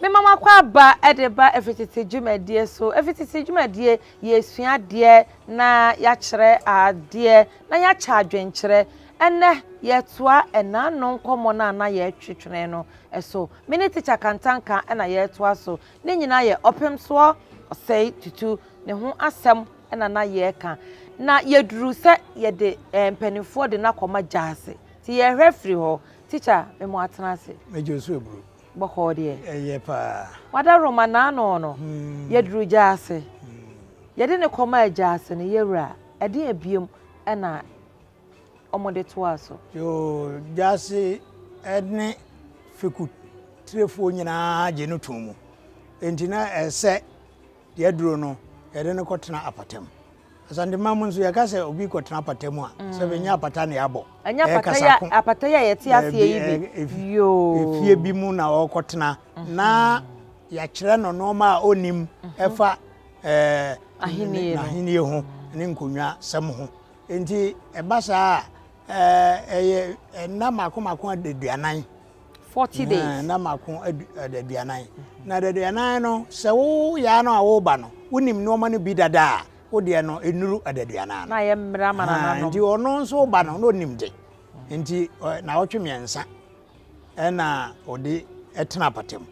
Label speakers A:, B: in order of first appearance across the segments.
A: mema makɔ aba de ba efitete dwumadie so efitete dwumadie yɛresua adeɛ na yɛakyerɛ adeɛ na yɛakyɛ adwenkyerɛ ɛnɛ yɛtoa ɛnaano nkɔmmɔ no a na yɛtwetwene no so me ne tikya kantanka na yɛtoa so Ne nyinaa yɛ ɔpemsoɔ ɔsɛe tutu ne ho asɛm na na yɛreka. Na yɛduru sɛ yɛde eh, mpanimfoɔ de no akɔma gyaase. Nti yɛrehwɛ firi hɔ. Tikya, me mo atena ase. Major Osu Aburo.
B: Bɔkɔɔ deɛ.
A: Ɛyɛ paa.
B: Wada Roma n'ano
A: no. Hmm. Yɛduru gyaase. Hmm. Yɛde no kɔma gyaase no, yɛwura, ɛdeɛn biom na wɔde toaa so. Yoo
B: Gyasi ne fekutirefoɔ nyinaa gye no too mu, enti na ɛsɛ sɛ deɛ aduro no, yɛde no kɔtena apata mu. Asanteman mu nso, yɛka sɛ obi kɔtena apata mu a, sɛ ɛnyɛ apata na yɛabɔ, ɛyɛ kasako.
A: Apata yi a yɛte aseɛ yi bi, yoo. Efie bi mu na
B: ɔrekɔtena, na yɛakyerɛ no nneɛma a ɔnnim ɛfa ɛɛ. Ahennie no. Ahennie ho ne nkonnwa sɛm ho. Enti ɛba saa a, ɛyɛ nna mako mako adaduanan. Forty
A: days. Nna mako
B: adaduanan. Na adaduanan no, sɛ woyɛ ara no a woreba no, wonim nneɛma no bi dada a, wo deɛ no, ɛnnuru adaduanan no. Na yɛ mmara ma nananom.
A: Nti ɔno nso ba no,
B: na ɔnim de. Nti naawɔtwe mmiɛnsa ɛna ɔde ɛtena apatam.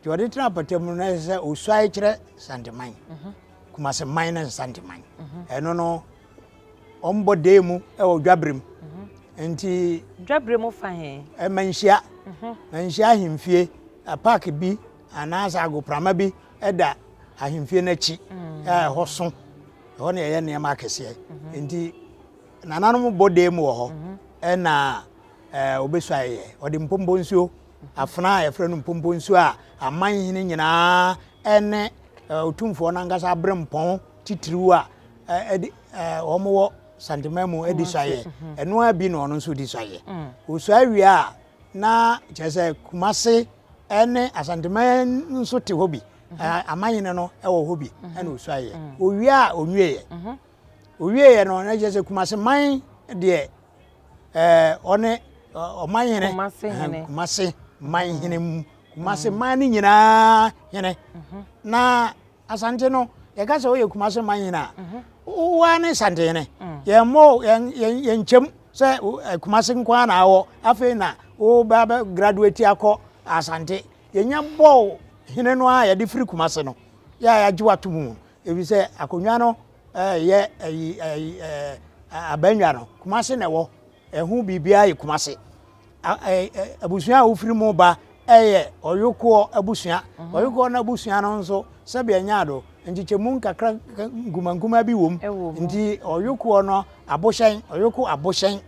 B: Nti ɔde tena apatam no, na ɛsɛ sɛ ɔsuae kyerɛ Santeman. Mhm. Kumase man na Santeman. Mhm. Ɛno no Wɔn bɔ dee mu wɔ dwabre mu. Nti. Dwabre mu fa
A: he? Ɛma nhyia.
B: Mhm. Ma nhyia ahemfie. Park bi anaasɛ agoprama bi da ahemfie no akyi mm. a ɛhɔ so. Ɛhɔ na yɛyɛ nneɛma akɛseɛ. Mhm. Nti nananom bɔ dee mu wɔ hɔ. Mhm. Ɛna wɔbɛsu ayɛyɛ. Wɔde mpompo nsuo afena a yɛfrɛ no mpompo nsuo a aman hene nyinaa ɛne ɔtumfoɔ no ankasa abrɛ mpɔn titiriw a ɛdi wɔn wɔ santeman mu ɛdi sua yɛ ɛno ara bi na ɔno nso di sua yɛ osua wie a na kyerɛ sɛ kumase ɛne asanteman nso te hɔ bi amanyene no ɛwɔ hɔ bi ɛna osua yɛ owie a onwie yɛ owie yɛ no na kyerɛ sɛ kumase man deɛ ɛɛ ɔne ɔman hene kumase man hene mu kumase man ne nyinaa hene na Asante no yɛka sɛ woyɛ Kumase man nyina a wo ara ne Santene mm. yɛmmɔ yɛnkyɛm sɛ eh, Kumase nko ara na awɔ afei na woba bɛ graduate akɔ Asante yɛnya bɔɔ hene no a yɛde firi Kumase no yɛ a yɛagye wato mu ɛfiri sɛ akonnwa no eh, yɛ eh, abannwa no Kumase na ɛwɔ ɛho biribiara yɛ Kumase Abusua a wofiri mu ba yɛ Ɔyokoɔ abusua. Ɔyokoɔ no abusua no nso, sɛdeɛ ɛnyɛ ado, nkyekyɛmu nkakra nkumankuma bi wom. Nti Ɔyokoɔ no abohyɛn, Ɔyoko abohyɛn,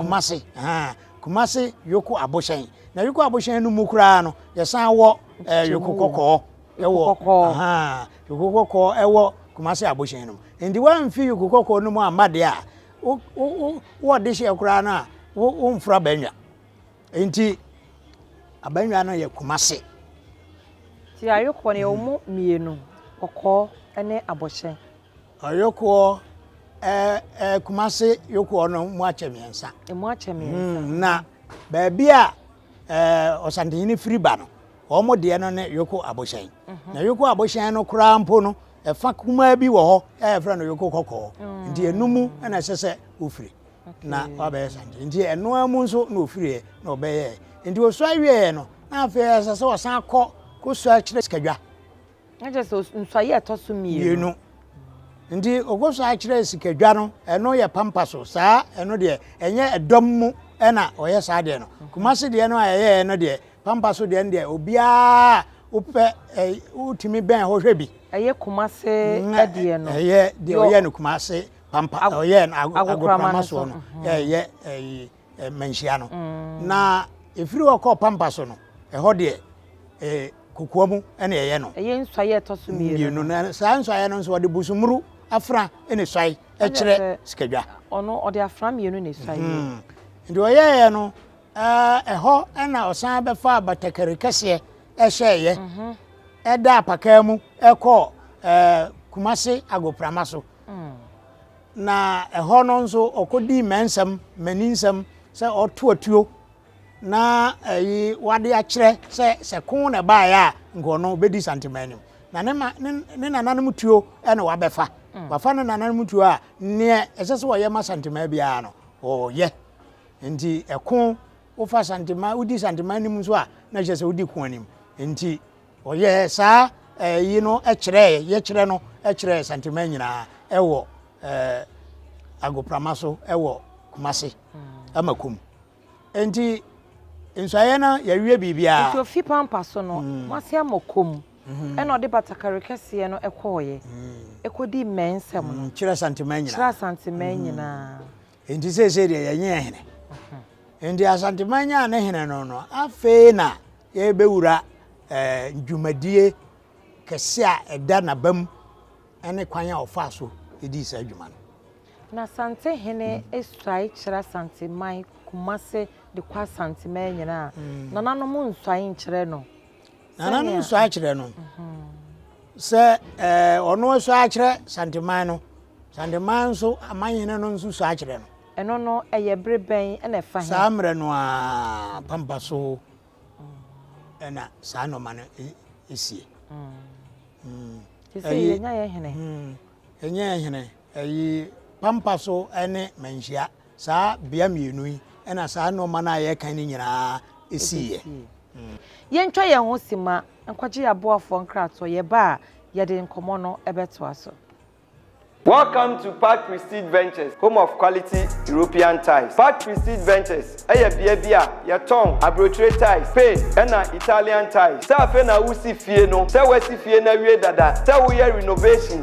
B: Kumase, Kumase Yoko abohyɛn. Na Yoko abohyɛn no mu koraa no, yɛsan wɔ Yoko kɔkɔɔ wɔ Yoko kɔkɔɔ wɔ Kumase abohyɛn no mu. Nti woamfi Yoko kɔkɔɔ no mu amma deɛ a, wo wo wo wo ɔdehyeɛ koraa no a wo wo mforo abɛnwa nti abɛnwa no yɛ kumase.
A: Ti ayokoɔ no yɛ wɔn mmienu kɔkɔɔ ne abɔhyɛ. Ɔyokoɔ
B: ɛɛ ɛɛ kumase yokoɔ no mu akyɛ mmiɛnsa. Emu akyɛ mmiɛnsa. Hmm, na baabi a ɛɛ ɔsantehene firi ba no. Wɔn deɛ no ne Yoko abohyɛn. Na Yoko abohyɛn no koraa mpo no, ɛfa kumaa bi wɔ hɔ a yɛfrɛ no Yoko kɔkɔɔ. Nti ɛno mu na ɛsɛ sɛ wofiri na wabɛyɛ sankyee. Nti ɛno ara mu nso na ofiriɛ na ɔbɛyɛɛ. Nti ɔsua wieɛ no, na afei ɛsɛ sɛ ɔsan kɔ kɔsua kyerɛ sikadwa. Na kyerɛ sɛ
A: nsɔe a ɛtɔ so mmienu. Nti
B: ɔkɔ so akyerɛ sikadwa no, ɛno yɛ pampa so. Saa ɛno deɛ, ɛnyɛ ɛdɔm mu ɛna ɔyɛ saa deɛ no. Mm-hmm. Kumase deɛ no a ɛyɛɛ no deɛ, pampa so deɛ no deɛ, obiara wopɛ ɛ wotumi bɛn hɔ hwɛ bi. Ɛyɛ kumase
A: mm, ɛdeɛ no. Ɛyɛ deɛ ɔyɛ no
B: kumase pampa, ɔyɛ no agokorama soɔ no, mm-hmm. ɛyɛ ɛyi. eh, manhyia no mm. na ɛfiri hɔ kɔɔ pampa so no ɛhɔ deɛ eh, kokoa mu ɛna ɛyɛ no ɛyɛ nsuaeɛ ɛtɔ so
A: mmienu no saa nsuaeɛ no
B: nso ɔde busumuru afra ɛna suae ɛkyerɛ sikadwa ɔno ɔde afra
A: mmienu na ɛsuae hmm. nti ɔyɛeɛ
B: no ɛhɔ ɛna ɔsan bɛfa abatakari kɛseɛ ɛhyɛeɛ mhm. ɛda apakaa mu ɛkɔɔ kumase agoprama so mm. na ɛhɔ no nso ɔkɔdii mmɛnsɛm mmaninsɛm sɛ ɔto atuo na ɛyi wade akyerɛ sɛ sɛ ko na ɛbaeɛ a nkɔɔ no bɛdi santema anim na ne ma ne ne nananom tuo na wabɛfa mm. wafa ne nananom tuo a neɛ ɛsɛ sɛ wɔyɛ ma santema biara no ɔyɛ nti ɛko wofa santema wodi santema anim nso a na ɛhyɛ sɛ wodi ko anim nti Ɔyɛɛ saa eh, yi no kyerɛɛ yɛkyerɛ no kyerɛɛ Santeman nyinaa ɛwɔ eh, agoprama so ɛwɔ Kumase hmm. ama kum nti nsuayɛ no yɛwie biribiara nti ofi pampa so
A: no hmm. Kumase ama kum hmm. ɛna ɔde batakari kɛseɛ no ɛkɔɔyɛ ɛkɔdi mmɛn nsɛm no kyerɛ Santeman nyinaa kyerɛ
B: Santeman nyinaa Enti seesei deɛ yɛnye yɛn hene. Enti Asanteman nyaa ne hene no no, afei na yɛbɛwura eh, dwumadie kɛse a ɛda n'abam ne kwan a ɔfaa so dii saa adwuma no. Na Asante
A: hene suae kyerɛ Asanteman, Kumase de kɔ Asanteman nyinaa. Mm. Nananom nsuae nkyerɛ no. Nananom sɔ
B: akyerɛ no sɛ ɛɛ ɔno sɔ akyerɛ Santeman no. Santeman nso amanhene no nso sɔ akyerɛ no. Ɛno no ɛyɛ
A: bere bɛn ɛna ɛfa he? Saa mmerɛ no ara
B: pampa so ɛna saa nɔma no esie. Sisi
A: yɛ nya yɛ hene. Yɛ nya yɛ
B: hene ɛyi pampa so ɛne manhyia. Saa bea mmienu yi na saa nnoɔma no a yɛrekan no nyinaa siiɛ.
A: Yɛntwa yɛn ho simma nkɔgye yɛn aboafoɔ nkratoɔ, yɛba a, yɛde nkɔmmɔ no bɛtoa so.
C: Welcome to Park Prestige Ventures, home of quality European tiles. Park Prestige Ventures yɛ bea bi a yɛtɔn aburokyire tiles, Spain na Italian tiles. Sɛ afei na woresi fie no, sɛ woasi fie no awie dada, sɛ woyɛ renovation,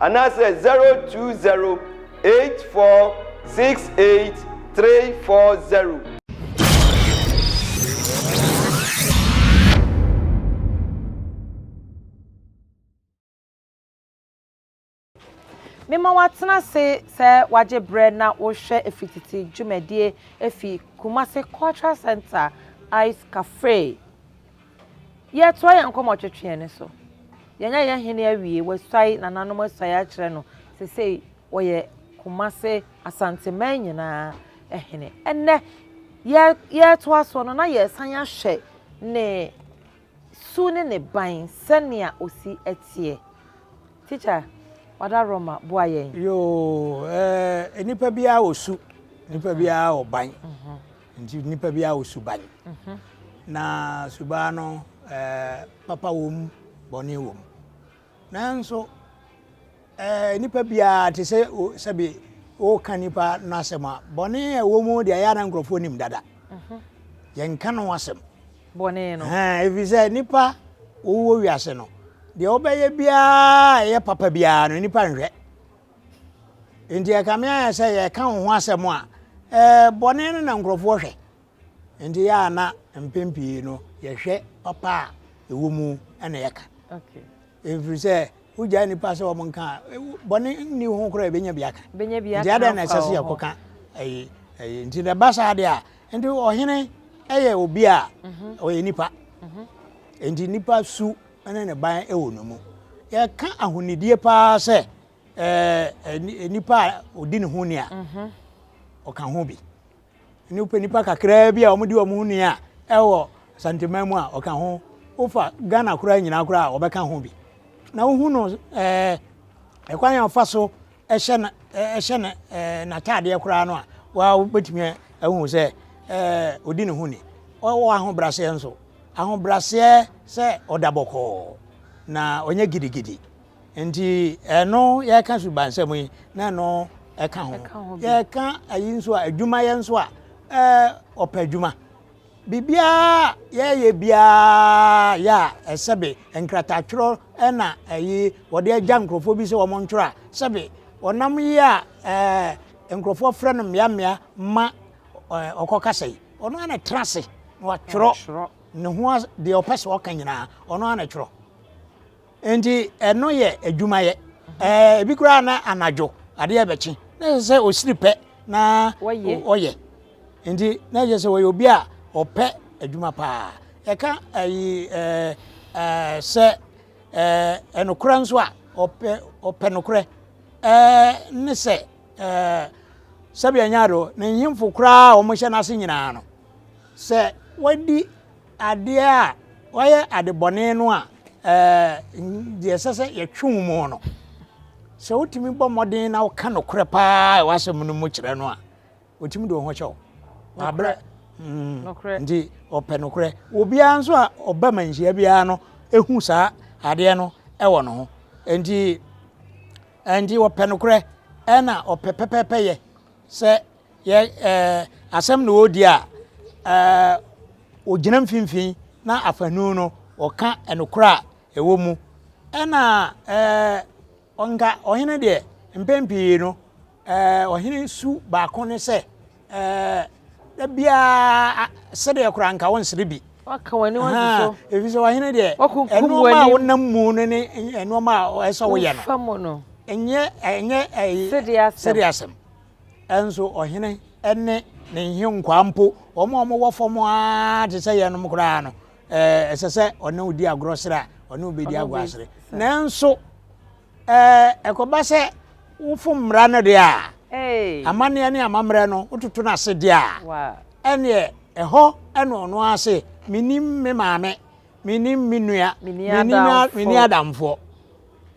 C: anaasɛ 0208468340.
A: Mema woatena ase sɛ woagye berɛ na worehwɛ Ɛfiri Tete dwumadie ɛfiri Kumasi Cultural Centre Ice Café. Yɛtoa yɛn nkɔmmɔ twetweɛ no so. Yɛanya yɛn hene awie, wasuae, nananom asuae akyerɛ no. Seesei ɔyɛ Kumase, Asanteman nyinaa hene. Ɛnnɛ, yɛ, yɛretoa soɔ no na yɛresan ahwɛ ne su ne ne ban sɛnea ɔsi teɛ. Teacher, Wada Roma, boa yɛn. Yoo,
B: eh, nnipa biara wɔ su, nnipa biara wɔ ban. Nti nipa bi awo suban. Mhm. Na suban no eh, papa wom, bɔne wom. Nanso eh, nipa biara te sɛ sɛbi woka nipa no asɛm a bɔne a ɛwɔ mu deɛ ɛyɛ na nkurɔfoɔ nim dada. Mhm. Yɛnka no asɛm. Bɔne no.
A: Ɛfiri sɛ nipa
B: wowɔ wiase no deɛ wobɛyɛ biara ɛyɛ papa biara no nipa nhwɛ. Enti ɛkame ayɛ sɛ yɛka wo ho asɛm a, ɛɛ bɔne no na nkurɔfoɔ hwɛ. Enti yɛ a na mpɛn pii no yɛhwɛ papa a ɛwɔ mu na yɛka. Ɛfiri
A: sɛ
B: wogyaa nnipa sɛ wɔn nka bɔne nni ho koraa ɛbɛnya bi aka. Nti adɛn na ɛsɛ sɛ yɛkɔka ɛyi ɛyi nti na ɛba saa deɛ a nti ɔhene ɛyɛ obi a mhm. ɔyɛ nipa. Mhm. Enti nipa su ne ne ban wɔ ne mu. Yɛka ahonidie paa sɛ ɛɛ nipa a ɔdi ne ho ni a mhm. ɔka ho bi ne wopɛ nipa kakraa bi a wɔde wɔn ho ni a ɛwɔ santeman mu a ɔka ho wofa ghana koraa nyinaa koraa a wɔbɛka ho bi na wohu no ɛɛ ɛkwan yɛn fa so hyɛ no hyɛ no n'ataadeɛ koraa no a, waa wobɛtumi ahu sɛ ɔdi ne ho ni. Ɔwɔ ahobraseɛ nso. Ahobraseɛ sɛ ɔda bɔkɔɔ na ɔnyɛ gidigidi. Nti ɛno yɛka subansɛm yi na ɛno ɛka ho. Yɛka ayi nso a, adwumayɛ nso a, ɔpɛ adwuma. Biribiara a yɛyɛ biara yɛ a, sɛbe nkratakyerɛw na ɛyi wɔde agya nkurɔfoɔ bi sɛ wɔn ntwerɛ a, sɛbe ɔnam yi a ɛɛ nkurɔfoɔ frɛ no mmeammea ma ɛɛ ɔkɔ kasa yi, ɔno ara na ɛtena ase na watwerɛ ne ho deɛ ɔpɛ sɛ ɔka nyinaa, ɔno ara na ɛtwerɛ. Enti ɛno yɛ adwumayɛ. Ɛɛ ebi koraa na anadwo adeɛ bɛkye na ɛsɛ sɛ ɔsiri pɛ na ɔyɛ. Enti na ɛyɛ sɛ ɔyɛ obi a ɔpɛ adwuma paa. Ɛka ɛyi ɛɛ ɛɛ sɛ ɛɛ ɛnokorɛ nso a ɔpɛ ɔpɛ nokorɛ ɛɛ ne sɛ ɛɛ sɛbi ɛnyɛ ado ne nhemfo koraa a wɔhyɛ n'ase nyinaa no sɛ wɔadi. Adeɛ a wayɛ adebɔne no a deɛ ɛsɛ sɛ yɛtwe wo mu no, sɛ wotumi bɔ mmɔden na woka nokorɛ paa ɛwɔ asɛm no mu kyerɛ no a, ɔtumi de wo ho kyɛ wo. Wabrɛ. Mm.
A: Nti ɔpɛ
B: nokorɛ. Obiara nso a ɔba ma nhyia biara no ɛhu saa adeɛ no ɛwɔ no ho. Nti nti ɔpɛ nokorɛ ɛna ɔpɛ pɛpɛpɛ yɛ sɛ yɛ ɛɛ asɛm na ɔredi a, ɛɛ ɔgyina mfimfini na afanu no ɔka nokorɛ a ɛwɔ mu. Ɛna ɛɛ nka ɔhene deɛ mpɛn pii no ɛɛ ɔhene su baako ne sɛ ɛɛ da biara sedeɛ koraa nka ɔnsere bi. waka w'ani
A: wagye so. Ɛfiri sɛ ɔhene deɛ
B: nnoɔma a wonam
A: mu no ne
B: nnoɔma a ɛsɛ woyɛ no. Fa mu no. Ɛnyɛ
A: ɛnyɛ
B: ɛyi sedeɛ asɛm. Nanso ɔhene ne ne nhenkwaa mpo, wɔn a wɔwɔ fam ara te sɛ yɛnom koraa no, ɛsɛ sɛ ɔne wo di agorɔ srɛ a, ɔne wo bɛdi agorɔ asrɛ. Nanso ɛkɔba sɛ wofo mmara no deɛ a, amanneɛ ne amammerɛ no wototo no ase deɛ a, ɛneɛ ɛhɔ ɛna ɔno ara se menim me maame menim me nua menim adamfoɔ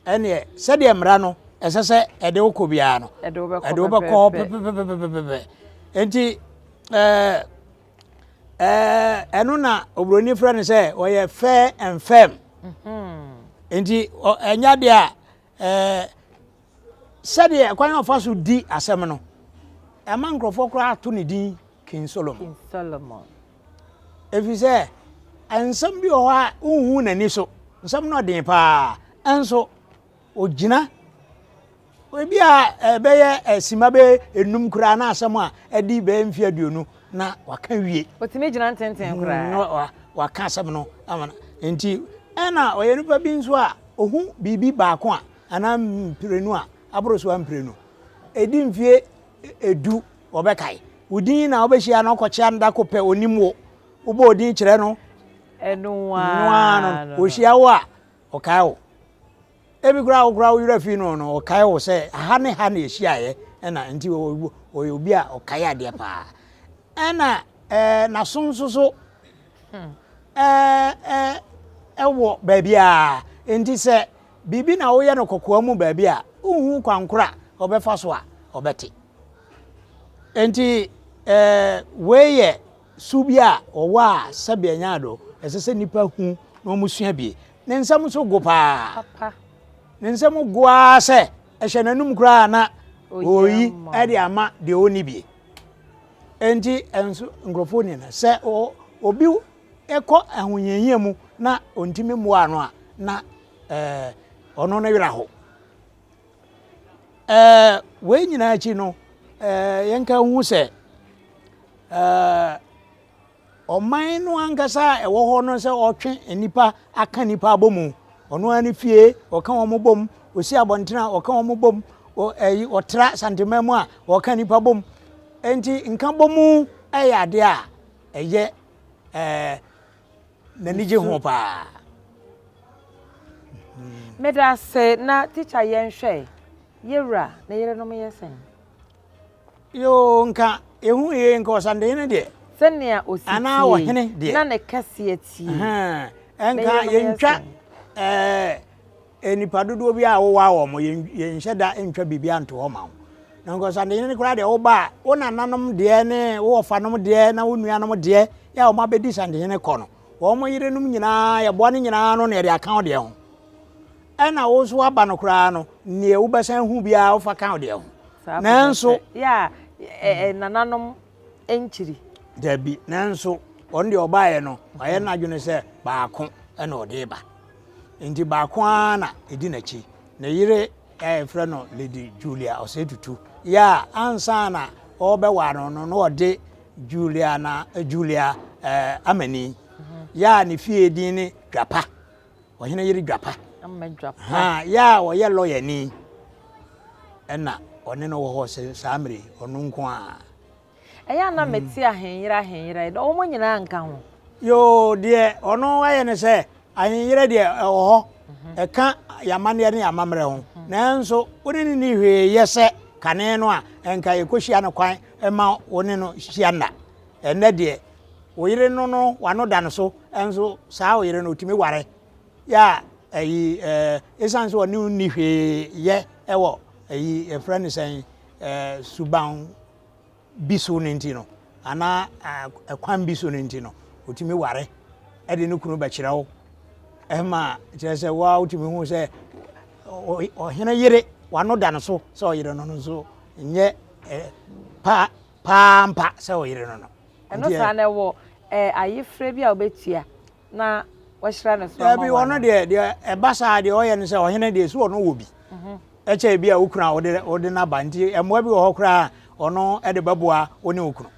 B: Ɛnneɛ, sɛdeɛ mmara no ɛsɛ sɛ ɛde wo kɔ biara no, ɛde wo bɛkɔ hɔ pɛpɛpɛpɛpɛpɛ. Enti, ɛɛ, ɛɛ, ɛno na oburoni frɛ no sɛ ɔyɛ fair and firm. Enti, ɛnyɛ adeɛ a ɛɛ, sɛdeɛ ɛkwan a ɔfa so di asɛm no, ɛma nkurɔfoɔ koraa to ne din King Solomon. King Solomon. ɛfiri sɛ nsɛm bi wɔ hɔ a wonhu n'ani so nsɛm no ɔden paa ɛnso ɔgyina ebi a ɛbɛyɛ ɛsima bɛ enum koraa na asɛm a ɛdi bɛyɛ mfe aduonu na waka wie ɔtumi gyina ntenten hmm,
A: koraa na waka asɛm no
B: ama nti ɛna ɔyɛ nipa bi nso a ɔhu biribi baako a anaa mprenu a aboro so a mprenu ɛdi mfie edu wɔbɛkae. Wo din na wobɛhyia no kɔkyea no da ko pɛ, ɔnim wo. Wobɔ wo din kyerɛ no, ɛno ara no, ɔhyia wo a, ɔkae wo. Ebi koraa wo koraa wo werɛ fii no no, ɔkae wo sɛ ha ne ha na ɛhyiaeɛ, ɛna nti ɔyɛ obi a ɔkae adeɛ paa. Ɛna ɛɛ n'aso nso so ɛɛ ɛwɔ baabiara, nti sɛ biribi na woyɛ no kɔkɔɔ mu baabi a, wonhu kwankora a ɔbɛfa so a ɔbɛte. Enti, ɛɛ wei yɛ su bi a wɔwɔ a sɛbe ɛnyɛ ade ɛsɛ sɛ nnipa hu na wɔsua bi. Ne nsɛm nso go paa. Ne nsɛm go ara sɛ ɛhyɛ n'anum koraa na ɔyi de ama deɛ ɔnni bi. Enti ɛnso nkurɔfoɔ nim no sɛ obi kɔ ahohiahia mu na ɔntumi mmoa ano a na ɛɛ ɔno ne werɛ ho. Wei nyinaa akyi no, yɛnka nhu sɛ ɔman no ankasa a ɛwɔ hɔ no sɛ ɔtwe nnipa aka nnipa abɔ mu ɔno ara ne fie ɔka wɔn bɔ mu ɔsi abɔnten a ɔka wɔn bɔ mu ɛyi ɔtra santeman mu a ɔka nnipa bɔ mu nti nka bɔ mu yɛ adeɛ a ɛyɛ ɛɛ. n'ani gye ho paa.
A: meda ase na tikya yɛnhwɛ yɛwura ne yerenom yɛ sɛn
B: yoo nka ehu yie nka ɔsandehene deɛ sɛnea osi tie anaa
A: ɔhene deɛ
B: na ne kɛseɛ tie
A: nka yɛntwa
B: ɛɛ Nnipa dodoɔ biara a wowaa wɔn, yɛnhyɛ da ntwa biribiara nto hɔ ma wo. Na nkɔnsadeɛ no koraa deɛ woba a, wo nananom deɛ ne wo wɔfanom deɛ na wo nuanom deɛ yɛ a wɔabɛdi santehene kɔ no, wɔn yerenom nyinaa, yɛboa no nyinaa no na yɛde aka wo deɛ ho. Ɛna wo nso woaba no koraa no, neɛ wobɛsan hu biara wofa ka wo deɛ ho. Nanso. Yɛ
A: a nananom nkyiri. Dabi,
B: nanso ɔno deɛ ɔbaeɛ no, wayɛ n'adwene sɛ baako na ɔde ba. Nti baako ara na ɛdi n'akyi. Ne yere a yɛfrɛ no Lady Julia Ɔsɛetutu yɛ a ansa na ɔrebɛware no no na ɔde Julia na Julia eh, Amani yɛ a ne fie din ne Dwapa. ɔhene yere dwapa ha yɛ a ɔyɛ lɔyani ɛna ɔne no wɔ hɔ saa mmere ɔno nko a ɛyɛ ana
A: hmm. mete ahenyere ahenyere dɛ wɔn nyinaa nka ho yoo deɛ
B: ɔno ayɛ ne sɛ ahenyere deɛ ɛwɔ hɔ mhm. ɛka yamaneɛ ne yamammerɛ ho mhm. nanso wo ne ne ni hwee yɛ sɛ kane no a ɛnka yɛkɔhyia no kwan ɛma wo ne no hyia nna ɛnɛ deɛ Wo yere no no wano da no so nso saa wo yere no otumi ware yɛ a ɛyi ɛsan sɛ ɔne nni hwee yɛ ɛwɔ ɛyi ɛfrɛ no sɛn suban bi so no nti no anaa ɛkwan bi so no nti no otumi ware ɛde ne kunu bɛkyerɛ wo ɛma kyerɛ sɛ wo a wotumi hu sɛ ɔhene yere wano da no so sɛ ɔyere no no nso nyɛ paa paa ampa sɛ ɔyere no no. Ɛno saa na ɛwɔ
A: ɛɛ ayefrɛ bi a ɔbɛtua na wɔahyira no so ama wɔn. Daabi ɔno deɛ deɛ
B: ɛba saa deɛ ɔyɛ no sɛ ɔhene deɛ so ɔno wɔ bi. Mhm. Ɛkyɛ ebi a okunu a ɔde ɔde n'aba nti mmoa bi wɔ hɔ koraa ɔno ɛde bɛboa ɔne okunu.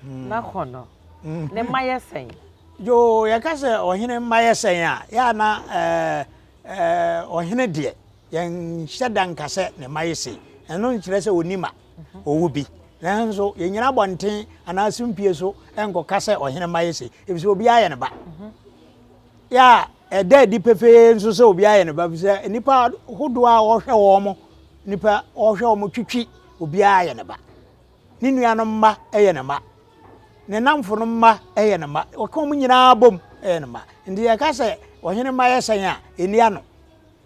B: Hmm.
A: Na kɔ no hmm. ne mma yɛ sɛn. Yoo yɛka
B: sɛ ɔhene mma yɛ sɛn a yɛ ana ɛɛ ɛɛ ɔhene deɛ. Yɛnhyɛ da nka sɛ ne mma ye sei. Ɛno nkyerɛ sɛ onni mma. Ɔwɔ bi. Nanso yɛnnyina abɔnten anaa sumpie so nkɔka sɛ ɔhene mma ye sei, efisɛ obiara yɛ ne ba. Yɛ a ɛda adi pefee nso sɛ obiara yɛ ne ba, efisɛ nnipa hodoɔ a wɔhwɛ wɔn mo, nnipa wɔhwɛ wɔn mo twitwi, obiara yɛ ne ba. Ne nuanom mma yɛ ne mma. Ne nnamfo no mma yɛ ne mma. Wɔka wɔn nyinaa bom yɛ ne mma. Nti yɛka sɛ ɔhene mma yɛ sɛn a, ɛnni ano.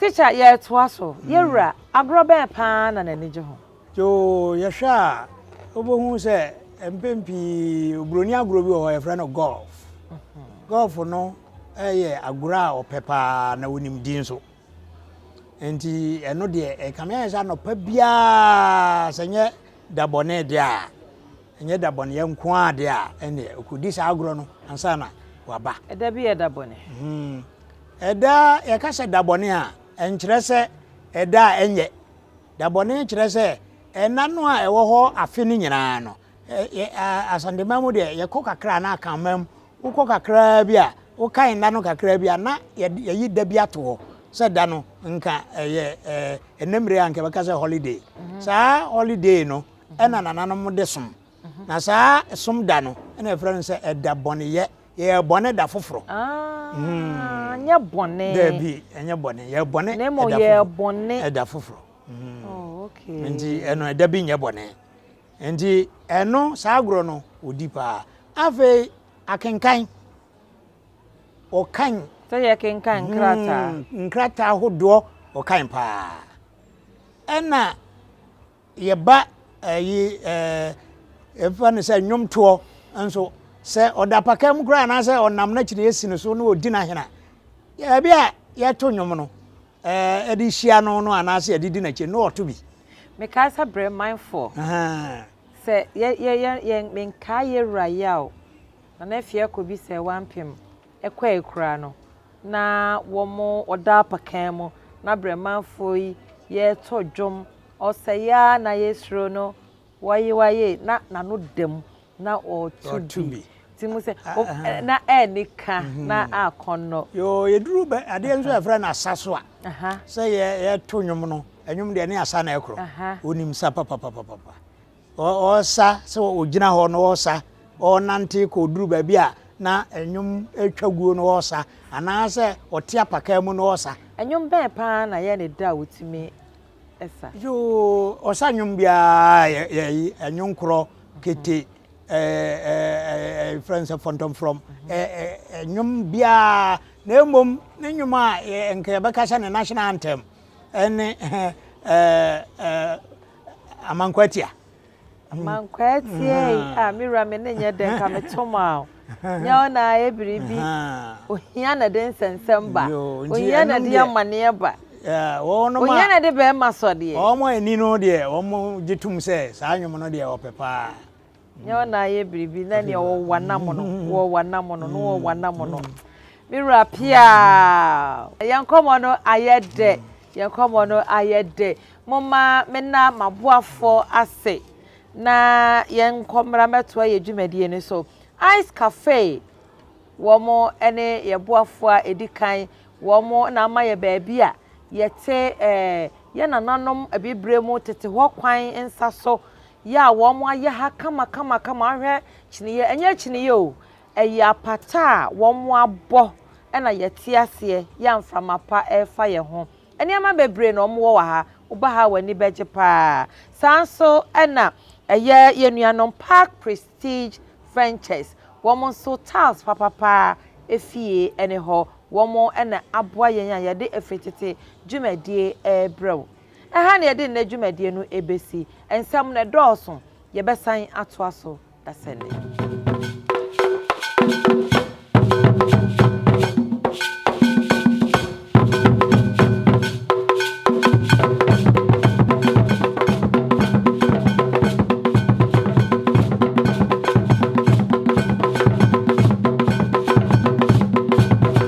A: Teacher yɛtoa so. Yɛ wura, agorɔ bɛn paa na n'ani gye ho? Yoo, yɛhwɛ
B: a wobɛhu sɛ mpɛn pii oburoni agorɔ bi wɔ hɔ yɛfrɛ no golf. Golf no yɛ agorɔ a ɔpɛ paa na wonim din nso. Nti ɛno deɛ ɛkame ayɛ sɛ anɔpa biara sɛ nyɛ da bɔne deɛ a ɛnyɛ da bɔneyɛ nko a deɛ a ɛneɛ ɔkɔdi saa agorɔ no ansa na waba. Ɛda bi yɛ da bɔne.
A: Hmm.
B: Ɛda a yɛka sɛ da bɔne a, ɛnkyerɛ sɛ ɛda a ɛnyɛ. Da bɔne kyerɛ sɛ ɛna no a ɛwɔ hɔ afe no nyinaa no. Asantema mu deɛ yɛkɔ kakra na akanma mu wokɔ kakraa bi a wokan nna no kakraa bi a na yɛyi da bi ato hɔ sɛ da no nka ɛyɛ ɛnɛ mmere a nka bɛka sɛ holiday. Mhm. Saa holiday no ɛna nananom de som. Mhm. Na saa som da no ɛna ɛfrɛ no sɛ ɛda bɔneyɛ. Yɛyɛ bɔne da foforɔ. Ah, mm.
A: nyɛ bɔne. Daabi, ɛnyɛ
B: bɔne. Yɛ bɔne ɛda foforɔ. Na yɛ bɔne
A: ɛda foforɔ. Mm. Oh,
B: okay.
A: Nti ɛno ɛda
B: bi nyɛ bɔne. Nti ɛno saa agorɔ no odi paa. Afei akenkan. Ɔkan. Sɛ yɛ kenkan mm,
A: nkrataa. Nkrataa
B: ahodoɔ ɔkan paa. Ɛna. Yɛba ɛyi ɛɛ yɛfa no sɛ nnwomtoɔ nso sɛ ɔda apaka mu koraa anaasɛ ɔnam n'akyiri yɛsi no so na ɔdi n'ahena ebi a yɛto nnwom no ɛɛ ɛde hyia no no anaasɛ yɛde di n'akyi no ɔto bi. Mekae sɛ brɛ
A: manfoɔ. Ahaa. Sɛ yɛ yɛ yɛ yɛn menkae yɛ wura Yaw, Nana Afie Akobi sɛ wampem. kɔe koraa no, na wɔn wɔda apakan mu, na Bremanfoɔ yi yɛreto dwom, ɔsɛeɛ ara na yɛsuro no, waye waye, na n'ano da mu, na ɔreto bi. Ti mu sɛ, o, na ɛnni ka, na akɔnnɔ. Yoo, yɛduru bɛ,
B: adeɛ nso a yɛfrɛ no asa so a, sɛ yɛ, yɛreto nnwom no, nnwom deɛ ne asa na ɛkorɔ. Wonim sa papapapapa. Ɔresa sɛ ɔgyina hɔ na ɔresa, ɔrenante kɔ ɔduru baabi a na nnwom retwa guo na ɔresa, anaasɛ ɔte apakaa mu na ɔresa. Nnwom bɛn paa
A: na yɛ ne da a wotumi sa? Yoo,
B: ɔsa nnwom biara yɛ yi, ɛnwonkorɔ, kete, ɛfrɛ no sɛ fɔntɔmfrɔm, nnwom biara, na mmom ne nnwom a nka yɛbɛka sɛ ne national anthem ɛne Amankwatia. Amankwatia
A: yi, ah, me wura me ne nyɛ dɛ nka me to ma o. Nyɛ wo na ayɛ biribi. Ohia na de nsɛnsɛm ba. Ohia na de amaneɛ ba. Ohia
B: na de bɛrima
A: sɔdeɛ. Wɔn ani no deɛ,
B: wɔn gye tom sɛ saa nnwom no deɛ ɔpɛ paa. Nyɛ wo na
A: ayɛ biribi na nea ɔwɔ w'anam no wɔ w'anam no no wɔ w'anam no. Me wura pia yɛn nkɔmmɔ no ayɛ dɛ yɛn nkɔmmɔ no ayɛ dɛ mo ma me na m'aboafoɔ ase na yɛn nkɔmmra mɛtoa yɛ dwumadie no so ice cafe wɔn ne yɛ boafoɔ a ɛdi kan wɔn na ama yɛ baabi a yɛte ɛɛ eh, yɛ nananom abibire mu tete hɔ kwan nsa so Yɛ a wɔn ayɛ ha kama kama kama ahwɛ kyiniyɛ ɛnyɛ kyiniyɛ o ɛyɛ apata a wɔn abɔ ɛna yɛ te aseɛ yɛ a mframa pa ɛrefa yɛ ho nneɛma bebree na wɔn wɔ wɔ ha woba ha wɔn ani bɛgye paa saa nso ɛna ɛyɛ yɛ nuanom park prestige ventures wɔn nso tiles papa paa efie ɛne hɔ wɔn ɛna aboa yɛn a yɛde ɛfiri tete dwumadie ɛrebrɛ wo. Ɛha na yɛde nnɛ dwumadie no bɛsi. Nsɛm no dɔɔso. Yɛbɛsan atoa so dasɛnɛ.